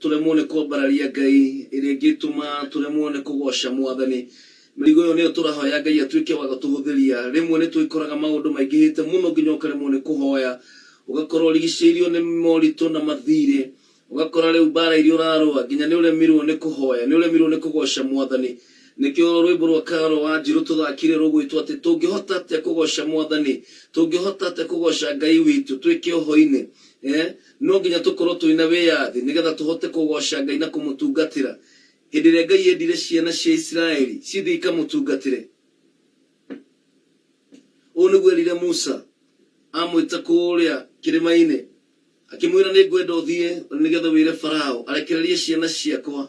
tũremwo nĩ kwambararia Ngai, ĩrĩa ĩngĩtũma tũremwo nĩ kũgooca Mwathani. Mĩrigo ĩyo nĩyo tũrahoya Ngai atuĩke wa gũtũhũthĩria. Rĩmwe nĩ twĩkoraga maũndũ maingĩhĩte mũno nginya ũkaremwo nĩ kũhoya. Ũgakorwo ũrigicĩirio nĩ moritũ na mathiirĩ. Ũgakora rĩu mbaara iria ũrarũa nginya nĩ ũremirwo nĩ kũhoya, nĩ ũremirwo nĩ kũgooca Mwathani. Nĩkĩo rwĩmbo rwa Carol Wanjiru tũthaakire rũgwĩtwo atĩ, Tũngĩhota atĩa kũgooca Mwathani? Tũngĩhota atĩa kũgooca Ngai witũ twĩ kĩoho-inĩ? Ee. No nginya tũkorũo tũrĩ na wĩyathi nĩ getha tũhote kũgooca Ngai na kũmũtungatĩra. Hĩndĩ ĩrĩa Ngai eendire ciana cia Isiraeli cithiĩ ikamũtungatĩre, ũũ nĩguo eerire Musa amwĩta kũrĩa kĩrĩma-inĩ, akĩmwĩra, Nĩ ngwenda ũthiĩ ũrĩ nĩ getha wĩre Farao arekererie ciana ciakwa,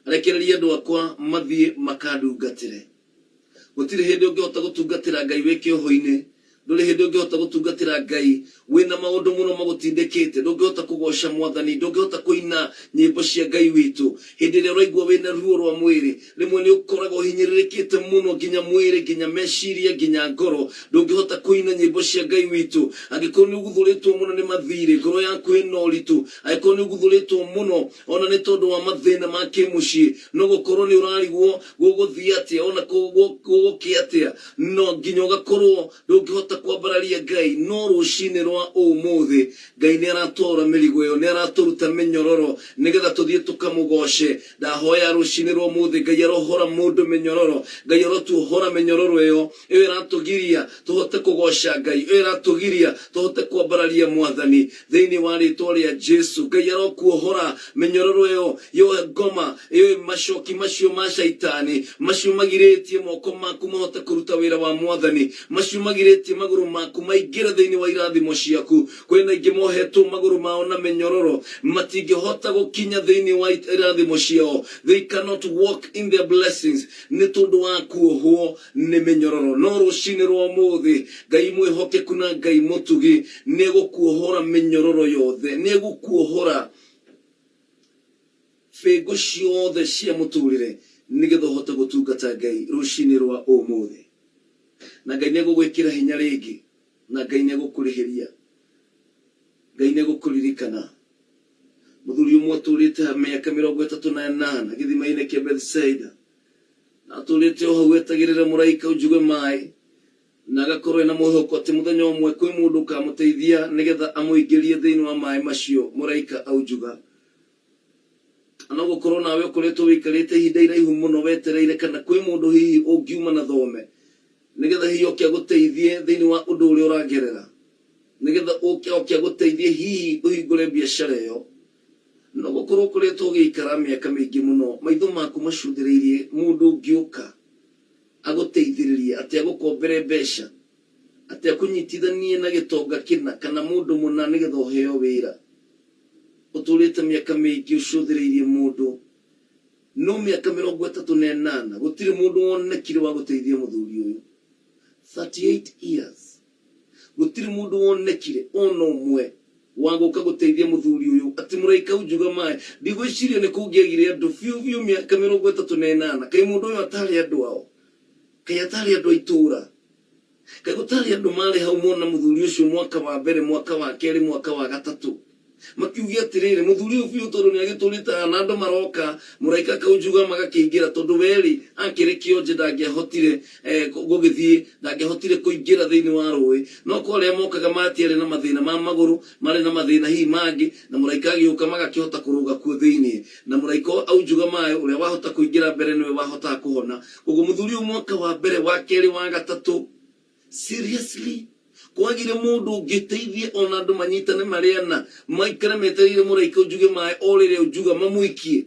arekererie andũ akwa mathiĩ makandungatĩre. Gũtirĩ hĩndĩ ũngĩhota gũtungatĩra Ngai wĩ kĩohoinĩ. Ndũrĩ hĩndĩ ũngĩhota gũtungatĩra Ngai wĩ na maũndũ mũno magũtindĩkĩte. Ndũngĩhota kũgooca Mwathani. Ndũngĩhota kũina nyĩmbo cia Ngai witũ. Hĩndĩ ĩrĩa ũraigua wĩ na ruo rwa mwĩrĩ, rĩmwe nĩ ũkoraga ũhinyĩrĩrĩkĩte mũno nginya mwĩrĩ, nginya meciria, nginya ngoro, ndũngĩhota kũina nyĩmbo cia Ngai witũ. Angĩkorwo nĩ ũguthũrĩtwo mũno nĩ mathiirĩ, ngoro yaku ĩna ũritũ, angĩkorwo nĩ ũguthũrĩtwo mũno O na nĩ tondũ wa mathĩna ma kĩmũciĩ, no gũkorũo nĩ ũrarigwo gũgũthiĩ atĩa, o na gũgũkĩ atĩa, na nginya ũgakorũo ndũngĩhota kwambararia Ngai. No rũcinĩ rwa ũmũthĩ, Ngai nĩ aratwaũra mĩrigo ĩyo. Nĩ aratũruta mĩnyororo nĩgetha tũthiĩ tũkamũgooce. Ndahoya rũcinĩ rwa ũmũthĩ, Ngai arohora mũndũ mĩnyororo. Ngai arotuohora mĩnyororo ĩyo. ĩyo ĩratũgiria tũhote kũgoca Ngai, ĩyo ĩratũgiria tũhote kwambararia Mwathani thĩinĩ wa rĩtwa rĩa Jesu. Ngai arokuohora mĩnyororo ĩyo yo ngoma ĩyo ĩ macoki macio ma caitani macio magirĩtie moko maku mahote kũruta wĩra wa Mwathani, macio magirĩtie magũrũ maku maingĩre thĩinĩ wa irathimo ciaku. Kwĩ na aingĩ mohetwo magũrũ mao na mĩnyororo, matingĩhota gũkinya thĩinĩ wa irathimo ciao, they cannot walk in their blessings. Nĩ tondũ wa kuohwo nĩ mĩnyororo. No rũcinĩ rwa ũmũthĩ, Ngai mwĩhokeku na Ngai mũtugi nĩ egũkuohora mĩnyororo yothe. Nĩ egũkuohora bĩngũ ciothe cia mũtũrĩre nĩ getha ũhote gũtungata Ngai rũcinĩ rwa ũmũthĩ. Na Ngai nĩ egũgwĩkĩra hinya rĩngĩ. Na Ngai nĩ egũkũrĩhĩria. Ngai nĩ egũkũririkana. Mũthuri ũmwe ũtũũrĩte ha mĩaka mĩrongo ĩtatũ na ĩnana gĩthima-inĩ kĩa Bethsaida, na atũũrĩte o hau etagĩrĩre mũraika ũnjuge maĩ, na agakorũo ena mwĩhoko atĩ mũthenya ũmwe kwĩ mũndũ ũkaamũteithia nĩgetha amũingĩrie thĩinĩ wa maĩ macio mũraika aunjuga. Kana no gũkorũo nawe ũkoretwo wĩikarĩte ihinda iraihu mũno wetereire kana kwĩ mũndũ hihi ũngiuma na thome nĩgetha hihi oke agũteithie thĩinĩ wa ũndũ ũrĩa ũragerera. Nĩgetha ũke oke agũteithie hihi ũhingũre biacara ĩyo. No gũkorwo ũkoretwo ũgĩikara mĩaka mĩingĩ mũno maitho maku macũthĩrĩirie mũndũ ũngĩũka agũteithĩrĩrie, atĩ agũkombere mbeca, atĩ akũnyitithanie na gĩtonga kĩna kana mũndũ mũna nĩgetha ũheo wĩra. Ũtũrĩte mĩaka mĩingĩ ũcũthĩrĩirie mũndũ, no mĩaka mĩrongo ĩtatũ na ĩnana gũtirĩ mũndũ wonekire wa gũteithia mũthuri ũyũ. Thirty eight years. Gũtirĩ mũndũ wonekire o na ũmwe wa gũka gũteithia mũthuri ũyũ. Ati mũraika unjuga maĩ. Ndigwĩciria nĩ kũngĩagire andũ biũ biũ mĩaka mĩrongo ĩtatũ na ĩnana. Kaĩ mũndũ ũyũ ataarĩ andũ ao? Kaĩ ataarĩ andũ a itũũra? Kaĩ gũtaarĩ andũ maarĩ hau mona mũthuri ũcio mwaka wa mbere, mwaka wa kerĩ, mwaka wa gatatũ? Makiuge atĩrĩrĩ, Mũthuri ũyũ biũ tondũ nĩagĩtũũrĩte haha, na andũ maroka, mũraika akaunjuga magakĩingĩra, tondũ we-rĩ, akĩrĩ kĩonje ndangĩahotire gũgĩthiĩ, ndangĩahotire kũingĩra thĩinĩ wa rũĩ. No kwa arĩa mokaga matiarĩ na mathĩna ma magũrũ, marĩ na mathĩna hihi mangĩ, na mũraika agĩũka magakĩhota kũrũga kuo thĩinĩ. Na mũraika ũyũ aunjuga maĩ, ũrĩa wahota kũingĩra mbere nĩwe wahotaga kũhona. Koguo mũthuri ũyũ mwaka wa mbere, wa kerĩ, wa gatatũ, Seriously? Kwagire mũndũ ũngĩteithia ona andũ manyitane marĩ ana maikare metereire mũraika ũnjuge maĩ o rĩrĩa ũnjuga mamũikie?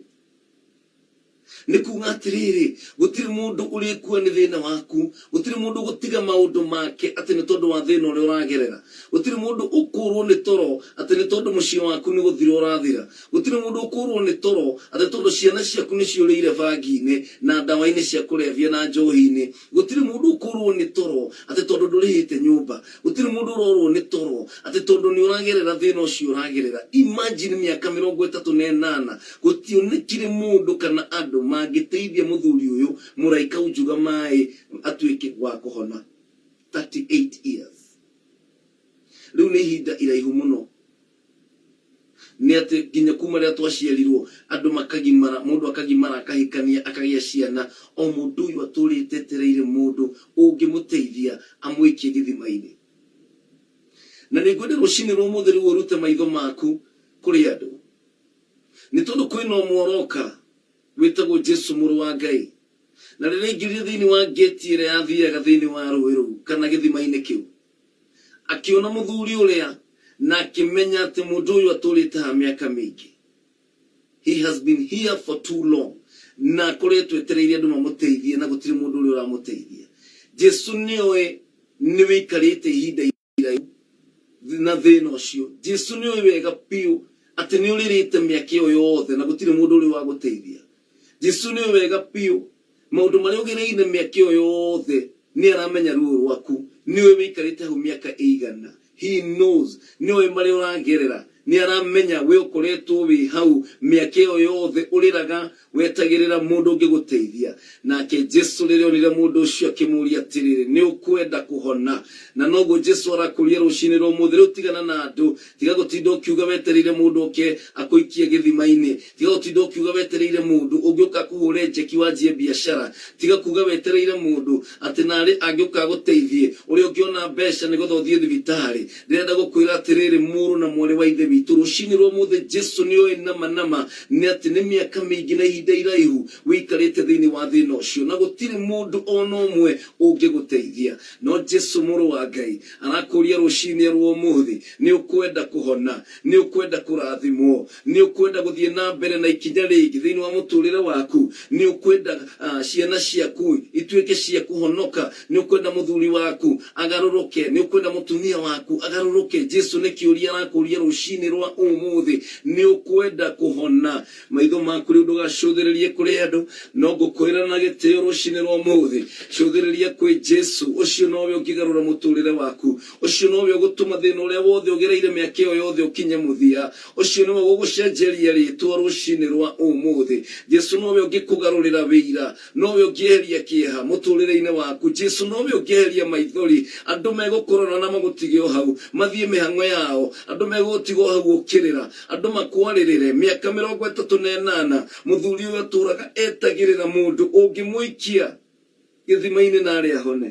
Nĩ kuga atĩrĩrĩ, gũtirĩ mũndũ ũrĩkua nĩ thĩna waku, gũtirĩ mũndũ ũgũtiga maũndũ make atĩ nĩ tondũ wa thĩna ũrĩa ũragerera, gũtirĩ mũndũ ũkũrwo nĩ toro atĩ nĩ tondũ mũciĩ waku nĩ gũthira ũrathira, gũtirĩ mũndũ ũkũrwo nĩ toro atĩ tondũ ciana ciaku nĩ ciũrĩire bangi-inĩ na ndawa-inĩ cia kũrebia na njohi-inĩ, Gũtirĩ mũndũ ũkũũrũo nĩ toro atĩ tondũ ndũrĩhĩte nyũmba. Gũtirĩ mũndũ ũrorũo nĩ toro atĩ tondũ nĩ ũragerera thĩna ũcio ũragerera. Imagine mĩaka mĩrongo ĩtatũ na ĩnana gũtionekire mũndũ kana andũ mangĩteithia mũthuri ũyũ mũraika aujuga maĩ atuĩke wa kũhona. 38 years. Rĩu nĩ ihinda iraihu mũno. Nĩ atĩ nginya kuma rĩrĩa twaciarirwo andũ makagimara, mũndũ akagimara akahikania akagĩa ciana, o mũndũ ũyũ atũrĩte etereire mũndũ ũngĩmũteithia amũikie gĩthima-inĩ. Na nĩ ngwenda rũcinĩ rwa ũmũthĩ rĩu ũrute maitho maku kũrĩ andũ, nĩ tondũ kwĩna ũmwe ũroka wĩtagwo Jesu mũrũ wa Ngai. Na rĩrĩa aingĩrire thĩinĩ wa ngĩti ĩrĩa yathiaga thĩinĩ wa rũĩ rũu kana gĩthima-inĩ kĩu, Akĩona mũthuri ũrĩa na akĩmenya atĩ mũndũ ũyũ atũrĩte haha mĩaka mĩingĩ. He has been here for too long. Na akoretwo etereire andũ mamũteithie na gũtirĩ mũndũ ũrĩa ũramũteithia. Jesu nĩ oĩ nĩ wĩikarĩte ihinda iraihu na thĩna ũcio. Jesu nĩ oĩ wega biũ atĩ nĩ ũrĩrĩte mĩaka ĩyo yothe na gũtirĩ mũndũ ũrĩa ũragũteithia. Jesu nĩ oĩ wega biũ Maũndũ marĩa ũgereire mĩaka ĩyo yothe, nĩ aramenya ruo rwaku, nĩ oĩ wĩikarĩte hau mĩaka ĩigana, he knows, nĩ oĩ marĩa ũragerera, nĩ aramenya we ũkoretwo wĩ hau mĩaka ĩyo yothe ũrĩraga wetagĩrĩra mũndũ ũngĩgũteithia, nake Jesu rĩrĩa onire mũndũ ũcio akĩmũria atĩrĩrĩ, nĩ ũkwenda kũhona? Na noguo Jesu arakũria rũcinĩ rwa ũmũthĩ, rĩu tigana na andũ, tiga gũtinda ũkiuga wetereire mũndũ oke akũikie gĩthima-inĩ, Tiga gũtinda ũkiuga wetereire mũndũ ũngĩ ũke akũhũre njeki wanjie biacara. Tiga kuuga wetereire mũndũ atĩ naarĩ angĩũka agũteithie, ũrĩa ũngĩona mbeca nĩgetha ũthiĩ thibitarĩ. Ndĩrenda gũkwĩra atĩrĩrĩ, mũrũ na mwarĩ wa Ithe witũ, rũciinĩ rwa ũmũthĩ Jesu nĩ oĩ nama nama nĩ atĩ nĩ mĩaka mĩingĩ na ihinda iraihu wĩikarĩte thĩinĩ wa thĩna ũcio na gũtirĩ mũndũ o na ũmwe ũngĩgũteithia. No Jesu Mũrũ wa Ngai arakũũria rũciinĩ rwa ũmũthĩ, nĩ ũkwenda kũhona? Nĩ ũkwenda kũrathimwo? Nĩ ũkwenda gũthiĩ na mbere na ikinya rĩngĩ thĩinĩ wa mũtũũrĩre waku? Nĩ ũkwenda ciana ciaku ituĩke cia kũhonoka? Nĩ ũkwenda mũthuri waku agarũrũke? Nĩ ũkwenda mũtumia waku agarũrũke? Jesu nĩ kĩũria arakũũria rũcinĩ rwa ũmũthĩ. Nĩ ũkwenda kũhona? Maitho maku rĩu ndũgacũthĩrĩrie kũrĩ andũ, no ngũkwĩra na gĩtĩo rũcinĩ rwa ũmũthĩ, cũthĩrĩria kwĩ Jesu. Ũcio nowe ũngĩgarũra mũtũũrĩre waku. Ũcio nowe ũgũtũma thĩna ũrĩa wothe ũgereire mĩaka ĩyo yothe ũkinye mũthia. Ũcio nĩwe ũgũgũcenjeria rĩĩtwa rũcinĩ rwa ũmũthĩ. Jesu nowe ũngĩkũgarũrĩra wĩira. Nowe ũngĩeheria kĩeha mũtũrĩreinĩ waku. Jesu nowe ũngĩeheria maithori. Andũ megũkũrora na magũtige o hau. Mathiĩ mĩhang'o yao. Andũ megũgũtiga o hau ũkĩrĩra. Andũ makwarĩrĩre. Mĩaka mĩrongo ĩtatũ na ĩnana, mũthuri ũyũ atũũraga etagĩrĩra mũndũ ũngĩmũikia gĩthimainĩ na arĩ ahone.